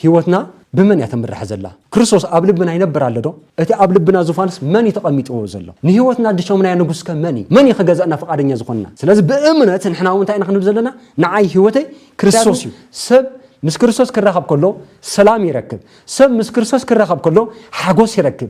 ህይወትና ብመን እያ ትምራሕ ዘላ? ክርስቶስ ኣብ ልብና ይነብር ኣሎዶ? እቲ ኣብ ልብና ዙፋንስ መን እዩ ተቐሚጥዎ ዘሎ? ንህይወትና ድሾምናዮ ንጉስከ መን እዩ? መን እዩ ክገዝኣና ፍቓደኛ ዝኾነና? ስለዚ ብእምነት ንሕና እውን እንታይ ኢና ክንብል ዘለና? ንዓይ ህይወተይ ክርስቶስ እዩ። ሰብ ምስ ክርስቶስ ክራኸብ ከሎ ሰላም ይረክብ። ሰብ ምስ ክርስቶስ ክራኸብ ከሎ ሓጎስ ይረክብ።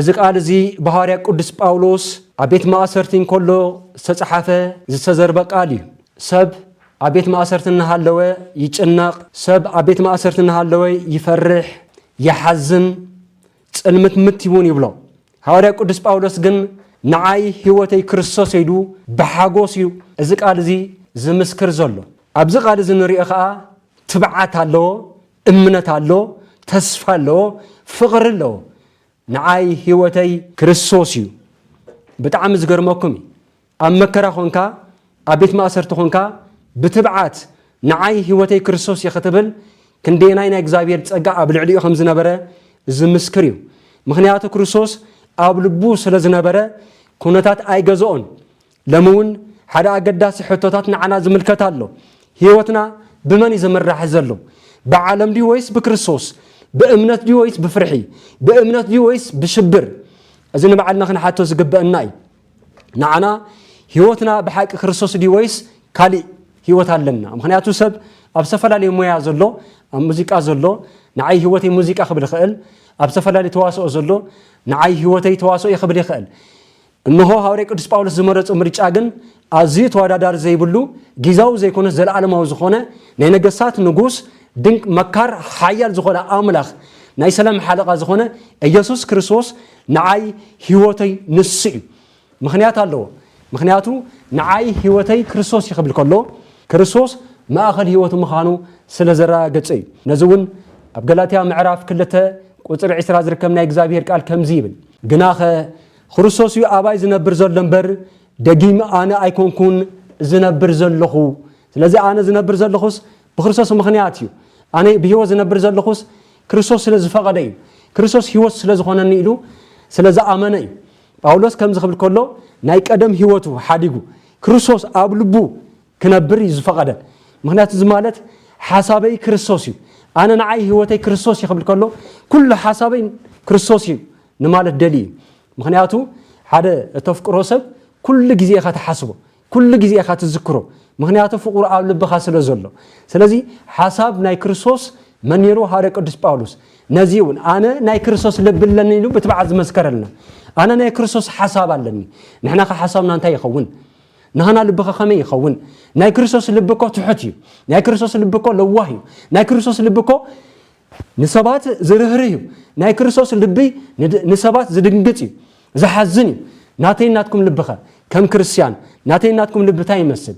እዚ ቃል እዚ ብሃዋርያ ቅዱስ ጳውሎስ ኣብ ቤት ማእሰርቲ እንከሎ ዝተጸሓፈ ዝተዘርበ ቃል እዩ። ሰብ ኣብ ቤት ማእሰርቲ እናሃለወ ይጭነቕ፣ ሰብ ኣብ ቤት ማእሰርቲ እናሃለወ ይፈርሕ፣ ይሓዝን፣ ጽልምትምት እውን ይብሎ። ሃዋርያ ቅዱስ ጳውሎስ ግን ንዓይ ሕይወተይ ክርስቶስ እዩ ኢሉ ብሓጎስ እዩ እዚ ቃል እዚ ዝምስክር ዘሎ። ኣብዚ ቃል እዚ እንርእዮ ከኣ ትብዓት ኣለዎ፣ እምነት ኣሎ ተስፋ ኣለዎ ፍቅሪ ኣለዎ ንዓይ ሂወተይ ክርስቶስ እዩ ብጣዕሚ ዝገርመኩም እዩ ኣብ መከራ ኮንካ ኣብ ቤት ማእሰርቲ ኮንካ ብትብዓት ንዓይ ሂወተይ ክርስቶስ እዩ ክትብል ክንደየናይ ናይ እግዚኣብሔር ጸጋ ኣብ ልዕሊኡ ከም ዝነበረ ዝምስክር እዩ ምክንያቱ ክርስቶስ ኣብ ልቡ ስለ ዝነበረ ኩነታት ኣይገዝኦን ሎሚ እውን ሓደ ኣገዳሲ ሕቶታት ንዓና ዝምልከት ኣሎ፣ ህይወትና ብመን እዩ ዝምራሕ ዘሎ? ብዓለም ድዩ ወይስ ብክርስቶስ? ብእምነት ድዩ ወይስ ብፍርሒ? ብእምነት ድዩ ወይስ ብሽብር? እዚ ንባዕልና ክንሓቶ ዝግበእና እዩ። ንዓና ህይወትና ብሓቂ ክርስቶስ ድዩ ወይስ ካሊእ ህይወት ኣለና? ምክንያቱ ሰብ ኣብ ዝተፈላለዩ ሞያ ዘሎ ኣብ ሙዚቃ ዘሎ ንዓይ ህይወተይ ሙዚቃ ክብል ይኽእል ኣብ ዝተፈላለዩ ተዋስኦ ዘሎ ንዓይ ህይወተይ ተዋስኦ እዩ ክብል ይኽእል እንሆ ሃውርያ ቅዱስ ጳውሎስ ዝመረጾ ምርጫ ግን ኣዝዩ ተወዳዳሪ ዘይብሉ ጊዛዊ ዘይኮነስ ዘለዓለማዊ ዝኾነ ናይ ነገስታት ንጉስ ድንቅ መካር ሓያል ዝኾነ ኣምላኽ ናይ ሰላም ሓለቓ ዝኾነ ኢየሱስ ክርስቶስ ንዓይ ሕይወተይ ንሱ እዩ ምኽንያት ኣለዎ ምኽንያቱ ንዓይ ሕይወተይ ክርስቶስ እዩ ክብል ከሎ ክርስቶስ ማእኸል ሕይወቱ ምዃኑ ስለ ዘረጋገጸ እዩ ነዚ እውን ኣብ ገላትያ ምዕራፍ ክልተ ቁፅሪ ዕስራ ዝርከብ ናይ እግዚኣብሔር ቃል ከምዚ ይብል ግናኸ ኽርስቶስ እዩ ኣባይ ዝነብር ዘሎ እምበር፣ ደጊም ኣነ ኣይኮንኩን ዝነብር ዘለኹ። ስለዚ ኣነ ዝነብር ዘለኹስ ብኽርስቶስ ምኽንያት እዩ። ኣነ ብህይወት ዝነብር ዘለኹስ ክርስቶስ ስለ ዝፈቐደ እዩ። ክርስቶስ ህይወት ስለ ዝኾነኒ ኢሉ ስለ ዝኣመነ እዩ። ጳውሎስ ከምዚ ክብል ከሎ ናይ ቀደም ህይወቱ ሓዲጉ ክርስቶስ ኣብ ልቡ ክነብር እዩ ዝፈቐደ ምክንያቱ እዚ ማለት ሓሳበይ ክርስቶስ እዩ ኣነ ንዓይ ህይወተይ ክርስቶስ እዩ ክብል ከሎ ኩሉ ሓሳበይ ክርስቶስ እዩ ንማለት ደሊ እዩ ምክንያቱ ሓደ እተፍቅሮ ሰብ ኩሉ ግዜ ኢኻ ትሓስቦ ኩሉ ግዜ ኢኻ ትዝክሮ ምክንያቱ ፍቕሩ ኣብ ልብኻ ስለ ዘሎ ስለዚ ሓሳብ ናይ ክርስቶስ መን ነይሩ ሃደ ቅዱስ ጳውሎስ ነዚ እውን ኣነ ናይ ክርስቶስ ልቢ ኣለኒ ኢሉ ብትብዓት ዝመስከረልና ኣነ ናይ ክርስቶስ ሓሳብ ኣለኒ ንሕና ከ ሓሳብና እንታይ ይኸውን ናህና ልብኸ ከመይ ይኸውን? ናይ ክርስቶስ ልቢ እኮ ትሑት እዩ። ናይ ክርስቶስ ልቢ እኮ ለዋህ እዩ። ናይ ክርስቶስ ልቢ እኮ ንሰባት ዝርህርህ እዩ። ናይ ክርስቶስ ልቢ ንሰባት ዝድንግጽ እዩ፣ ዝሓዝን እዩ። ናተይን ናትኩም ልብኸ ከም ክርስትያን ናተይን ናትኩም ልቢ እንታይ ይመስል?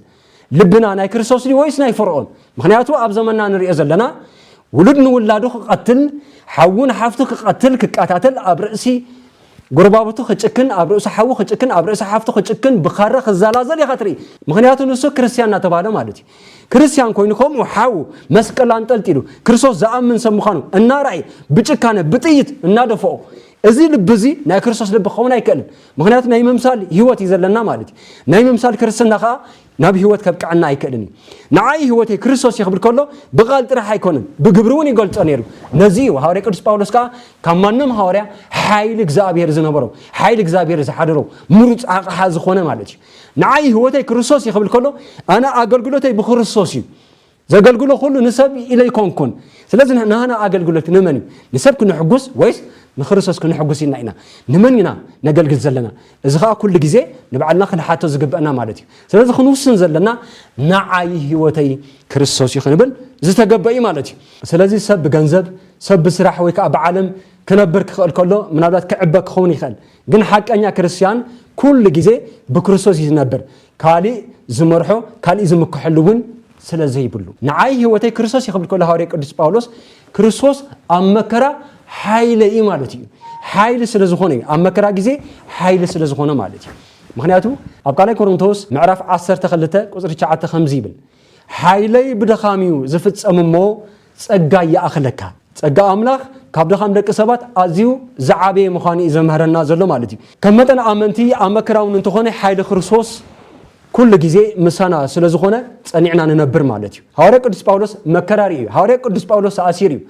ልብና ናይ ክርስቶስ ድዩ ወይስ ናይ ፈርኦን? ምክንያቱ ኣብ ዘመንና ንሪኦ ዘለና ውሉድ ንውላዱ ክቐትል፣ ሓዉ ንሓፍቱ ክቐትል፣ ክቀታተል ኣብ ርእሲ ጎረባብቱ ክጭክን ኣብ ርእሱ ሓዉ ክጭክን ኣብ ርእሲ ሓፍቱ ክጭክን ብኻራ ክዛላዘል ኢኻ ትርኢ ምኽንያቱ ንሱ ክርስትያን እናተባህለ ማለት እዩ ክርስትያን ኮይኑ ከምኡ ሓዉ መስቀል ኣንጠልጢሉ ክርስቶስ ዝኣምን ሰብ ምዃኑ እናርኣየ ብጭካነ ብጥይት እናደፈኦ እዚ ልቢ እዚ ናይ ክርስቶስ ልቢ ክኸውን ኣይክእልን ምኽንያቱ ናይ ምምሳል ህይወት እዩ ዘለና ማለት እዩ ናይ ምምሳል ክርስትና ከዓ ናብ ህይወት ከብቅዐና ኣይክእልን እዩ። ንዓይ ህይወተይ ክርስቶስ እዩ ክብል ከሎ ብቃል ጥራሕ ኣይኮነን ብግብሪ እውን ይገልጾ ነይሩ። ነዚ እዩ ሃዋርያ ቅዱስ ጳውሎስ ከዓ ካብ ማንም ሃዋርያ ሓይሊ እግዚኣብሔር ዝነበሮ ሓይሊ እግዚኣብሔር ዝሓደሮ ምሩፅ ኣቕሓ ዝኾነ ማለት እዩ። ንዓይ ህይወተይ ክርስቶስ እዩ ክብል ከሎ ኣነ ኣገልግሎተይ ብክርስቶስ እዩ ዘገልግሎ ኹሉ ንሰብ ኢለ ኣይኮንኩን። ስለዚ ናህና ኣገልግሎት ንመን እዩ? ንሰብ ክነሕጉስ ወይስ ንክርስቶስ ክነሕጉስ ኢልና ኢና? ንመን ኢና ነገልግል ዘለና? እዚ ኸኣ ኩሉ ግዜ ንባዕልና ክንሓቶ ዝግበእና ማለት እዩ። ስለዚ ክንውስን ዘለና ንዓይ ህይወተይ ክርስቶስ እዩ ክንብል ዝተገበ እዩ ማለት እዩ። ስለዚ ሰብ ብገንዘብ፣ ሰብ ብስራሕ ወይ ከኣ ብዓለም ክነብር ክኽእል ከሎ ምናልባት ክዕበ ክኸውን ይኽእል። ግን ሓቀኛ ክርስትያን ኩሉ ግዜ ብክርስቶስ እዩ ዝነብር። ካልእ ዝመርሖ ካልእ ዝምከሐሉ ውን ስለ ዘይብሉ። ንዓይ ህይወተይ ክርስቶስ እዩ ክብል ከሎ ሃዋርያ ቅዱስ ጳውሎስ ክርስቶስ ኣብ መከራ ሓይለ እዩ ማለት እዩ። ሓይሊ ስለ ዝኾነ እዩ ኣብ መከራ ግዜ ሓይሊ ስለ ዝኾነ ማለት እዩ። ምክንያቱ ኣብ ካልኣይ ኮሮንቶስ ምዕራፍ 12 ቁፅሪ 9 ከምዚ ይብል ሓይለይ ብድኻም እዩ ዝፍፀም እሞ ጸጋ ይኣኽለካ። ጸጋ ኣምላኽ ካብ ድኻም ደቂ ሰባት ኣዝዩ ዝዓበየ ምዃኑ እዩ ዘምህረና ዘሎ ማለት እዩ። ከም መጠን ኣመንቲ ኣብ መከራ እውን እንተኾነ ሓይሊ ክርስቶስ ኩሉ ግዜ ምሳና ስለ ዝኾነ ጸኒዕና ንነብር ማለት እዩ። ሃዋርያ ቅዱስ ጳውሎስ መከራ ርእዩ። ሃዋርያ ቅዱስ ጳውሎስ ተኣሲሩ እዩ።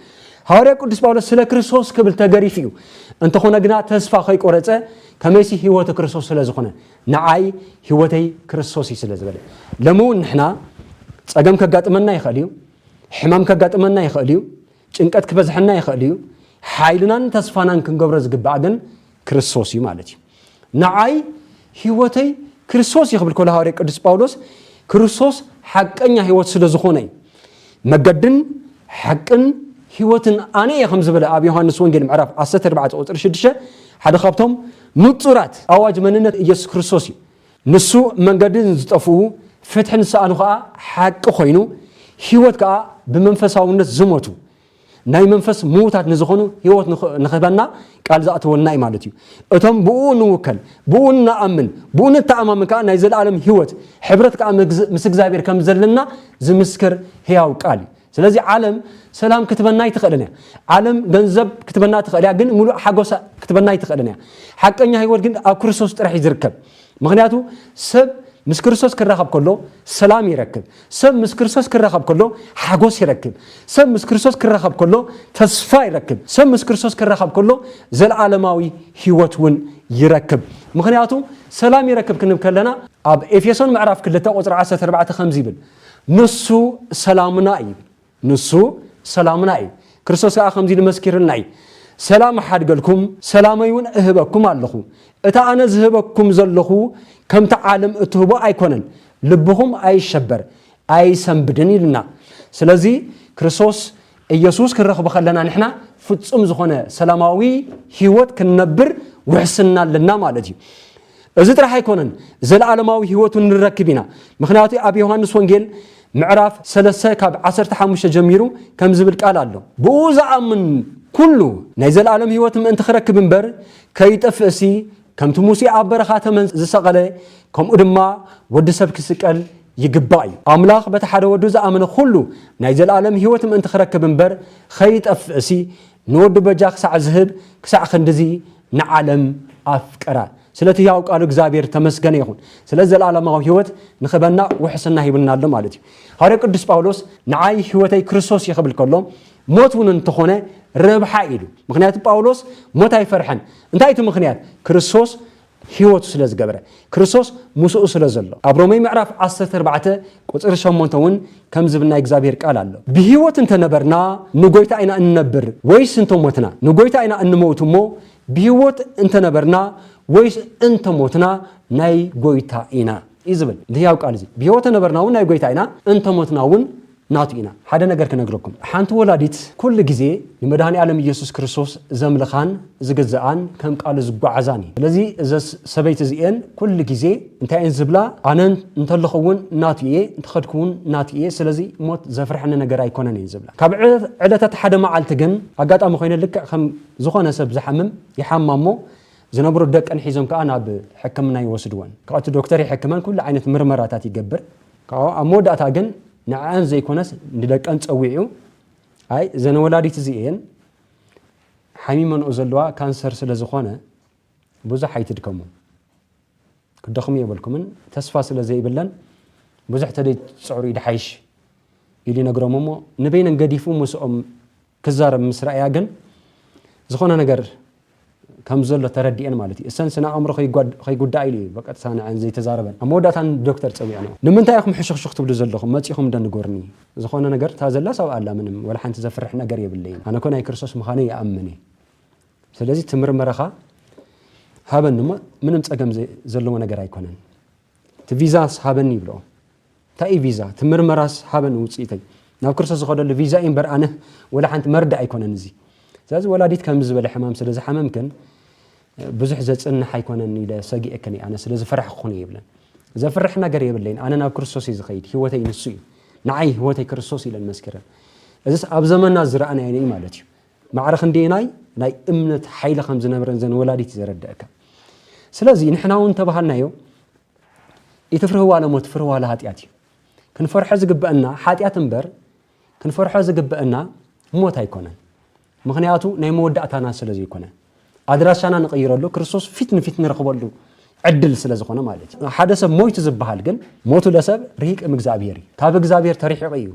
ሃዋርያ ቅዱስ ጳውሎስ ስለ ክርስቶስ ክብል ተገሪፉ እዩ። እንተኾነ ግና ተስፋ ከይቆረጸ ከመይሲ ህይወቱ ክርስቶስ ስለ ዝኾነ ንዓይ ህይወተይ ክርስቶስ እዩ ስለ ዝበለ ሎሚ እውን ንሕና ጸገም ከጋጥመና ይኽእል እዩ። ሕማም ከጋጥመና ይኽእል እዩ፣ ጭንቀት ክበዝሐና ይኽእል እዩ፣ ሓይልናን ተስፋናን ክንገብሮ ዝግባእ ግን ክርስቶስ እዩ ማለት እዩ። ንዓይ ህይወተይ ክርስቶስ እዩ ክብል ከሎ ሃዋርያ ቅዱስ ጳውሎስ ክርስቶስ ሓቀኛ ህይወት ስለ ዝኾነ እዩ። መገድን ሓቅን ህይወትን ኣነ እየ ከም ዝበለ ኣብ ዮሃንስ ወንጌል ምዕራፍ 14 ቁፅሪ 6 ሓደ ካብቶም ንፁራት ኣዋጅ መንነት ኢየሱስ ክርስቶስ እዩ። ንሱ መንገዲ ንዝጠፍኡ፣ ፍትሒ ንዝሰኣኑ ከኣ ሓቂ ኮይኑ፣ ህይወት ከኣ ብመንፈሳውነት ዝሞቱ፣ ናይ መንፈስ ምዉታት ንዝኾኑ ህይወት ንኽህበና ቃል ዝኣተወልና እዩ ማለት እዩ። እቶም ብእኡ እንውከል፣ ብእኡ እንኣምን፣ ብእኡ ንተኣማመን ከኣ ናይ ዘለኣለም ህይወት፣ ሕብረት ከኣ ምስ እግዚኣብሔር ከም ዘለና ዝምስክር ሕያው ቃል እዩ። ስለዚ ዓለም ሰላም ክትበና ኣይትኽእልን እያ። ዓለም ገንዘብ ክትበና ትኽእል እያ፣ ግን ምሉእ ሓጎሳ ክትበና ኣይትኽእልን እያ። ሓቀኛ ህይወት ግን ኣብ ክርስቶስ ጥራሕ እዩ ዝርከብ። ምክንያቱ ሰብ ምስ ክርስቶስ ክራኸብ ከሎ ሰላም ይረክብ። ሰብ ምስ ክርስቶስ ክራኸብ ከሎ ሓጎስ ይረክብ። ሰብ ምስ ክርስቶስ ክራኸብ ከሎ ተስፋ ይረክብ። ሰብ ምስ ክርስቶስ ክራኸብ ከሎ ዘለዓለማዊ ህይወት እውን ይረክብ። ምክንያቱ ሰላም ይረክብ ክንብ ከለና ኣብ ኤፌሶን ምዕራፍ 2 ቁፅሪ 14 ከምዚ ይብል ንሱ ሰላምና እዩ። ንሱ ሰላምና እዩ። ክርስቶስ ከኣ ከምዚ ኢሉ መስኪርልና እዩ፣ ሰላም እሓድገልኩም፣ ሰላመይውን እህበኩም ኣሎኹ። እቲ ኣነ ዝህበኩም ዘሎኹ ከምቲ ዓለም እትህቦ ኣይኮነን። ልብኹም ኣይሸበር፣ ኣይሰንብድን ኢሉና። ስለዚ ክርስቶስ ኢየሱስ ክንረኽቦ ከለና ንሕና ፍጹም ዝኾነ ሰላማዊ ህይወት ክንነብር ውሕስና ኣለና ማለት እዩ። እዚ ጥራሕ ኣይኮነን ዘለኣለማዊ ሕይወቱ ንረክብ ኢና ምኽንያቱ ኣብ ዮሐንስ ወንጌል ምዕራፍ ሰለስተ ካብ ዓሰርተ ሓሙሽተ ጀሚሩ ከምዚ ዝብል ቃል ኣሎ ብእኡ ዝኣምን ኩሉ ናይ ዘለኣለም ሕይወት ምእንቲ ክረክብ እምበር ከይጠፍእሲ ከምቲ ሙሴ ኣብ በረኻ ተመን ዝሰቐለ ከምኡ ድማ ወዲ ሰብ ክስቀል ይግባእ እዩ ኣምላኽ በቲ ሓደ ወዱ ዝኣመነ ኩሉ ናይ ዘለኣለም ሕይወት ምእንቲ ክረክብ እምበር ኸይጠፍእሲ ንወዱ በጃ ክሳዕ ዝህብ ክሳዕ ክንድዚ ንዓለም ኣፍቀራ። ስለቲ ህያው ቃሉ እግዚኣብሔር ተመስገነ ይኹን። ስለዚ ዘለዓለማዊ ሕይወት ንክበና ውሕስና ሂቡና ኣሎ ማለት እዩ። ሃዋርያ ቅዱስ ጳውሎስ ንዓይ ሕይወተይ ክርስቶስ እዩ ክብል ከሎ ሞት እውን እንተኾነ ረብሓ ኢሉ። ምክንያቱ ጳውሎስ ሞት ኣይፈርሐን። እንታይ እቲ ምክንያት? ክርስቶስ ህይወቱ ስለ ዝገበረ፣ ክርስቶስ ምስኡ ስለ ዘሎ። ኣብ ሮሜ ምዕራፍ ዓሰርተ ኣርባዕተ ቁጽሪ ሸሞንተ እውን ከምዚ ዝብል ናይ እግዚኣብሔር ቃል ኣሎ፣ ብህይወት እንተ ነበርና ንጐይታ ኢና እንነብር፣ ወይስ እንተ ሞትና ንጐይታ ኢና እንመውት እሞ፣ ብህይወት እንተ ነበርና ወይስ እንተ ሞትና ናይ ጐይታ ኢና እዩ ዝብል። እዚ ህያው ቃል እዚ፣ ብህይወት ተነበርና እውን ናይ ጐይታ ኢና፣ እንተ ሞትና እውን ናቱ ኢና ሓደ ነገር ክነግረኩም ሓንቲ ወላዲት ኩሉ ግዜ ንመድሃኒኣለም እየሱስ ክርስቶስ ዘምልኻን ዝግዝኣን ከም ቃሉ ዝጓዓዛን እየን ስለዚ እዘስ ሰበይቲ እዚኤን ኩሉ ግዜ እንታይ እየን ዝብላ ኣነ እንተለኹ እውን ናቱ እየ እንተኸድኩ እውን ናቱ እየ ስለዚ ሞት ዘፍርሐኒ ነገር ኣይኮነን እየን ዝብላ ካብ ዕለታት ሓደ መዓልቲ ግን ኣጋጣሚ ኮይነ ልክዕ ከም ዝኾነ ሰብ ዝሓምም ይሓማ እሞ ዝነብሩ ደቀን ሒዞም ከዓ ናብ ሕክምና ይወስድወን ካብቲ ዶክተር ይሕክመን ኩሉ ዓይነት ምርመራታት ይገብር ካብኡ ኣብ መወዳእታ ግን ንዐኣን ዘይኮነስ ንደቀን ጸዊዑ ኣይ እዘን ወላዲት እዚኤን ሓሚመንኦ ዘለዋ ካንሰር ስለ ዝኾነ ብዙሕ ኣይትድከሙ ክደኽሙ የብልኩምን ተስፋ ስለ ዘይብለን ብዙሕ ተደይ ትጽዕሩ ይድሓይሽ ኢሉ ይነግሮም እሞ ንበይነን ገዲፉ ምስኦም ክዛረብ ምስ ረኣያ ግን ዝኾነ ነገር ከም ዘሎ ተረዲኤን ማለት እዩ። እሰን ስነ ኣእምሮ ከይጉዳኣ ኢሉ እዩ ብቐጥታ ንዐን ዘይተዛረበን። ኣብ መወዳእታ ንዶክተር ጸዊዐንኦ። ንምንታይ ኢኹም ሕሹኽሹኽ ትብሉ ዘለኹም? መጺኹም ዶ ንገሩኒ? ዝኾነ ነገር እታ ዘላስ ኣብኣ ኣላ ምንም ዋላ ሓንቲ ዘፍርሕ ነገር የብለይን። ኣነ እኮ ናይ ክርስቶስ ምዃነይ ይኣምን እየ። ስለዚ እቲ ምርመራኻ ሃበኒ እሞ ምንም ጸገም ዘለዎ ነገር ኣይኮነን። እቲ ቪዛስ ሃበኒ ይብልኦ። እንታይ እዩ ቪዛ እቲ ምርመራስ ሃበን ውፅኢተይ ናብ ክርስቶስ ዝኸደሉ ቪዛ እዩ እምበር ኣነ ወላ ሓንቲ መርዳእ ኣይኮነን እዚ ስለዚ ወላዲት ከምዚ ዝበለ ሕማም ስለ ዝሓመምክን ብዙሕ ዘፅንሕ ኣይኮነን ኢለ ሰጊኤክን እየ ኣነ ስለ ዝፈራሕኩን ይብለን ዘፍርሕ ነገር የብለይን ኣነ ናብ ክርስቶስ እዩ ዝኸይድ ህይወተይ ንሱ እዩ ንዓይ ህይወተይ ክርስቶስ ኢለን መስኪረን እዚስ ኣብ ዘመና ዝረኣናዮ እዩ ማለት እዩ ማዕረ ክንደየናይ ናይ እምነት ሓይሊ ከም ዝነበረን ዘን ወላዲት ዘረድአካ ስለዚ ንሕና እውን ተባሃልናዮ ኢትፍርህዋ ለሞት ፍርህዋ ለኃጢኣት እዩ። ክንፈርሖ ዝግበእና ሓጢኣት እምበር ክንፈርሖ ዝግበእና ሞት ኣይኮነን። ምኽንያቱ ናይ መወዳእታና ስለ ዘይኮነ ኣድራሻና ንቕይረሉ ክርስቶስ ፊት ንፊት ንረኽበሉ ዕድል ስለ ዝኾነ ማለት እዩ ሓደ ሰብ ሞይቱ ዝበሃል ግን ሞቱ ለሰብ ርሂቅ እምእግዚኣብሔር እዩ ካብ እግዚኣብሔር ተርሒቑ እዩ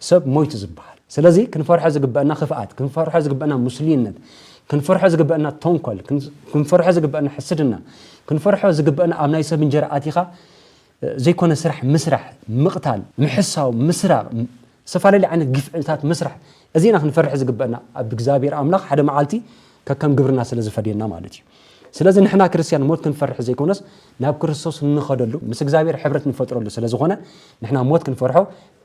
ሰብ ሞይቱ ዝበሃል። ስለዚ ክንፈርሖ ዝግበእና ክፍኣት፣ ክንፈርሖ ዝግበእና ሙስሉይነት፣ ክንፈርሖ ዝግበእና ተንኮል፣ ክንፈርሖ ዝግበእና ሕስድና፣ ክንፈርሖ ዝግበእና ኣብ ናይ ሰብ እንጀራ ኣቲኻ ዘይኮነ ስራሕ ምስራሕ፣ ምቕታል፣ ምሕሳው፣ ምስራቕ፣ ዝተፈላለዩ ዓይነት ግፍዕታት ምስራሕ፣ እዚ ኢና ክንፈርሕ ዝግበእና ኣብ እግዚኣብሔር ኣምላኽ ሓደ መዓልቲ ከከም ግብርና ስለ ዝፈድየና ማለት እዩ። ስለዚ ንሕና ክርስትያን ሞት ክንፈርሕ ዘይኮነስ ናብ ክርስቶስ እንኸደሉ ምስ እግዚኣብሔር ሕብረት ንፈጥረሉ ስለ ዝኾነ ንሕና ሞት ክንፈርሖ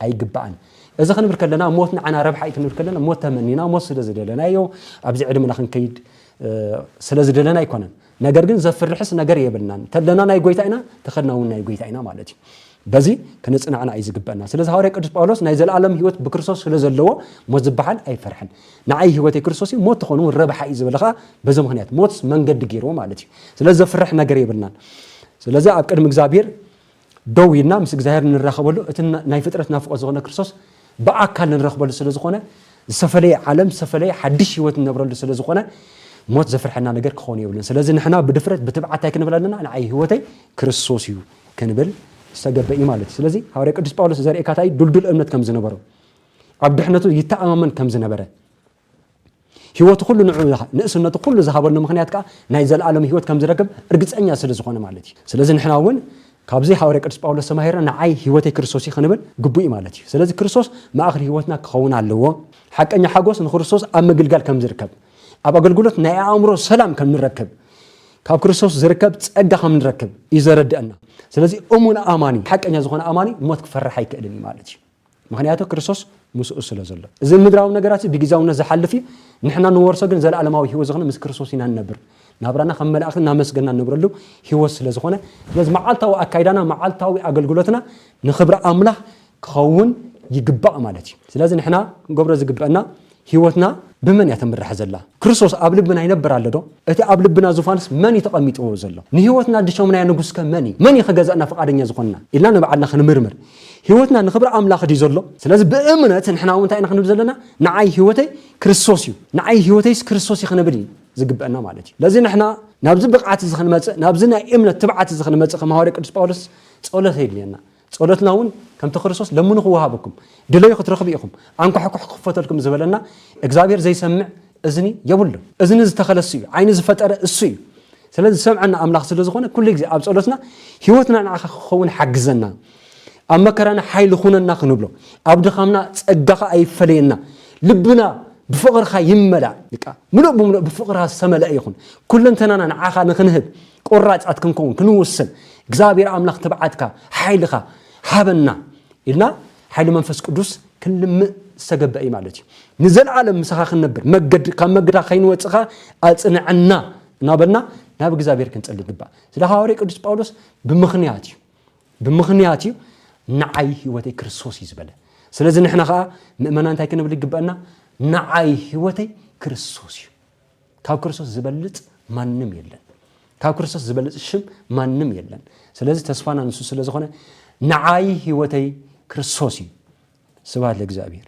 ኣይግባእን። እዚ ክንብል ከለና ሞት ንዓና ረብሓ እዩ ክንብል ከለና ሞት ተመኒና ሞት ስለ ዝደለናዮ ኣብዚ ዕድመና ክንከይድ ስለ ዝደለና ኣይኮነን። ነገር ግን ዘፍርሕስ ነገር የብልናን። ተለና ናይ ጎይታ ኢና፣ ተኸድና እውን ናይ ጎይታ ኢና ማለት እዩ። በዚ ክንጽናዕና እዩ ዝግበአና። ስለዚ ሃዋርያ ቅዱስ ጳውሎስ ናይ ዘለኣለም ህይወት ብክርስቶስ ስለ ዘለዎ ሞት ዝበሃል ኣይፈርሕን። ንዓይ ህይወተይ ክርስቶስ እዩ፣ ሞት ትኾኑ ረብሓ እዩ ዝበለ ከዓ በዚ ምክንያት ሞት መንገዲ ገይርዎ ማለት እዩ። ስለዚ ዘፍርሕ ነገር የብልናን። ስለዚ ኣብ ቅድሚ እግዚኣብሔር ደው ኢልና ምስ እግዚኣብሔር እንራኸበሉ እቲ ናይ ፍጥረት ናፍቆት ዝኾነ ክርስቶስ ብኣካል እንረኽበሉ ስለ ዝኾነ ዝተፈለየ ዓለም ዝተፈለየ ሓድሽ ህይወት እንነብረሉ ስለ ዝኾነ ሞት ዘፍርሐና ነገር ክኾኑ የብሉን ስለዚ ንሕና ብድፍረት ብትብዓት እንታይ ክንብል ኣለና ንዓይ ህይወተይ ክርስቶስ እዩ ክንብል ዝተገበ እዩ ማለት እዩ ስለዚ ሃዋርያ ቅዱስ ጳውሎስ ዘርእካታይ ዱልዱል እምነት ከም ዝነበሮ ኣብ ድሕነቱ ይተኣማመን ከም ዝነበረ ህይወቱ ኩሉ ንዑ ንእስነቱ ኩሉ ዝሃበሉ ምክንያት ከዓ ናይ ዘለኣለም ህይወት ከም ዝረክብ እርግፀኛ ስለ ዝኾነ ማለት እዩ ስለዚ ንሕና እውን ካብዚ ሃዋርያ ቅዱስ ጳውሎስ ተማሂርና ንዓይ ህይወተይ ክርስቶስ እዩ ክንብል ግቡእ እዩ ማለት እዩ ስለዚ ክርስቶስ ማእኸል ህይወትና ክኸውን ኣለዎ ሓቀኛ ሓጎስ ንክርስቶስ ኣብ ምግልጋል ከም ዝርከብ ኣብ ኣገልግሎት ናይ ኣእምሮ ሰላም ከም ንረክብ ካብ ክርስቶስ ዝርከብ ፀጋ ከም ንረክብ እዩ ዘረድአና ስለዚ እሙን ኣማኒ ሓቀኛ ዝኾነ ኣማኒ ሞት ክፈርሕ ኣይክእልን እዩ ማለት እዩ ምኽንያቱ ክርስቶስ ምስኡ ስለ ዘሎ። እዚ ምድራዊ ነገራትዚ ብጊዚያውነት ዝሓልፍ እዩ፣ ንሕና ንወርሶ ግን ዘለኣለማዊ ህይወት ዝኽነ ምስ ክርስቶስ ኢና ንነብር። ናብራና ከም መላእኽቲ እናመስገንና ንነብረሉ ህይወት ስለ ዝኾነ፣ ስለዚ መዓልታዊ ኣካይዳና መዓልታዊ ኣገልግሎትና ንኽብሪ ኣምላኽ ክኸውን ይግባእ ማለት እዩ። ስለዚ ንሕና ክንገብሮ ዝግበእና ህይወትና ብመን እያ ትምራሕ ዘላ? ክርስቶስ ኣብ ልብና ይነብር ኣሎ ዶ? እቲ ኣብ ልብና ዙፋንስ መን እዩ ተቐሚጥዎ ዘሎ? ንህይወትና ድሾምናያ ንጉስከ መን እዩ? መን እዩ ክገዝኣና ፍቓደኛ ዝኾንና? ኢልና ንባዕልና ክንምርምር። ህይወትና ንኽብሪ ኣምላኽ ድዩ ዘሎ? ስለዚ ብእምነት ንሕና እውን እንታይ ኢና ክንብል ዘለና? ንዓይ ህይወተይ ክርስቶስ እዩ፣ ንዓይ ህይወተይስ ክርስቶስ እዩ ክንብል እዩ ዝግበአና ማለት እዩ። ለዚ ንሕና ናብዚ ብቕዓት እዚ ክንመጽእ፣ ናብዚ ናይ እምነት ትብዓት እዚ ክንመጽእ ከም ሃዋርያ ቅዱስ ጳውሎስ ጸሎት የድልየና። ጸሎትና እውን ከምቲ ክርስቶስ ለምኑ ክወሃበኩም፣ ድለዩ ክትረኽቡ ኢኹም፣ ኣንኳሕኩሑ ክኽፈተልኩም ዝበለና እግዚኣብሔር ዘይሰምዕ እዝኒ የብሉን። እዝኒ ዝተኸለ እሱ እዩ፣ ዓይኒ ዝፈጠረ እሱ እዩ። ስለዚ ዝሰምዐና ኣምላኽ ስለ ዝኾነ ኩሉ ግዜ ኣብ ጸሎትና ህይወትና ንዓኻ ክኸውን ሓግዘና፣ ኣብ መከራና ሓይሊ ኩነና ክንብሎ፣ ኣብ ድኻምና ጸጋኻ ኣይፈለየና፣ ልብና ብፍቕርኻ ይመላእ፣ ምሉእ ብምሉእ ብፍቕርኻ ዝተመልአ ይኹን፣ ኩለንተናና ንዓኻ ንኽንህብ፣ ቆራፃት ክንከውን ክንውስን እግዚኣብሔር ኣምላኽ ትብዓትካ ሓይልኻ ሃበና ኢልና ሓይሊ መንፈስ ቅዱስ ክንልምእ ዝተገበ እዩ ማለት እዩ ንዘለዓለም ምሳኻ ክንነብር መገድ ካብ መገድካ ከይንወፅኻ ኣፅንዐና እናበልና ናብ እግዚኣብሔር ክንፀሊ ይግባእ ስለ ሃዋርያ ቅዱስ ጳውሎስ ብምኽንያት እዩ ብምኽንያት እዩ ንዓይ ህይወተይ ክርስቶስ እዩ ዝበለ ስለዚ ንሕና ከዓ ምእመና እንታይ ክንብል ይግበአና ንዓይ ህይወተይ ክርስቶስ እዩ ካብ ክርስቶስ ዝበልጽ ማንም የለን ካብ ክርስቶስ ዝበልጽ ሽም ማንም የለን ስለዚ ተስፋና ንሱ ስለ ዝኾነ ንዓይ ህይወተይ ክርስቶስ እዩ ስብሃት ለእግዚኣብሔር